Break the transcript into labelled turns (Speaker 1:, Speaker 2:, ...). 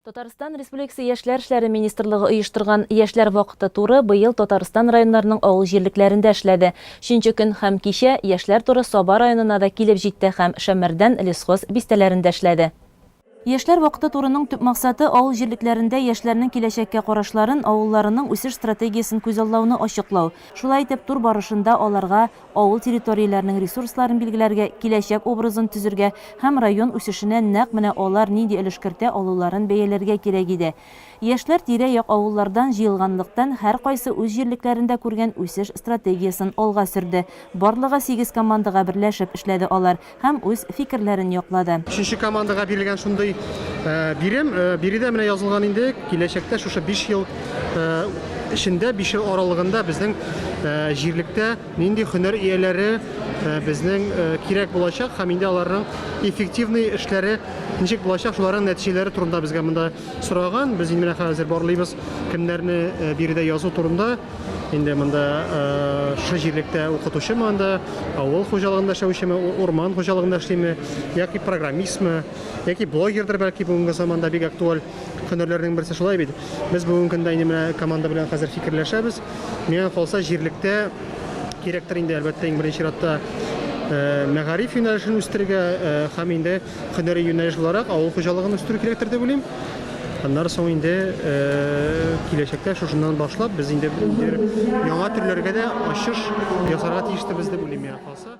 Speaker 1: Татарстан Республикасы Яшьләр эшләре министрлыгы оештырган Яшьләр вакыты туры быел Татарстан районнарының авыл җирлекләрендә эшләде. Чөнче көн һәм кичә Яшьләр туры Саба районына да килеп җитте һәм Шәммәрдән лесхоз бистәләрендә эшләде. Яшьләр вакыты турының төп максаты, авыл җирлекләрендә яшьләрнең киләчәккә карашларын, авылларының үсеш стратегиясен күзаллауны ачыклау. Шулай итеп, тур барышында аларга авыл территорияләренең ресурсларын билгеләргә, киләчәк образын төзергә һәм район үсешенә нәкъ менә алар нинди өлеш кертә алуларын бәяләргә кирәк иде. Яшьләр тирә-як авыллардан җыелганлыктан, һәркайсы үз җирлекләрендә күргән үсеш стратегиясен алга сөрде. Барлыгы сигез командага берләшеп эшләде алар. Һәм үз фикерләрен яклады. Өченче командага
Speaker 2: бирелгән шундый бирем. Биредә менә язылган инде, киләчәктә шушы биш ел эчендә, биш ел аралыгында безнең җирлектә нинди һөнәр ияләре безнең кирәк булачак һәм инде аларның эффективный эшләре ничек булачак, шуларның нәтиҗәләре турында безгә монда сораган. Без инде менә хәзер барлыйбыз, кемнәрне биредә язу турында. Инде монда шы җирлектә укытучымы анда, авыл хуҗалыгында эшләүчеме, урман хуҗалыгында эшлиме, яки программистмы, яки блогердыр бәлки бүгенге заманда бик актуаль һөнәрләрнең берсе шулай бит. Без бүгенге көндә инде менә команда белән хәзер фикерләшәбез. Миңа калса җирлектә кирәктер инде әлбәттә иң беренче чиратта мәгариф юнәлешен үстерергә һәм инде Һөнәри юнәлеш буларак авыл хуҗалыгын үстерү кирәктер дип уйлыйм. Аннары соң инде киләчәктә шушыннан башлап без инде яңа төрләргә дә ачыш ясарга тиештебез дип уйлыйм, миңа калса.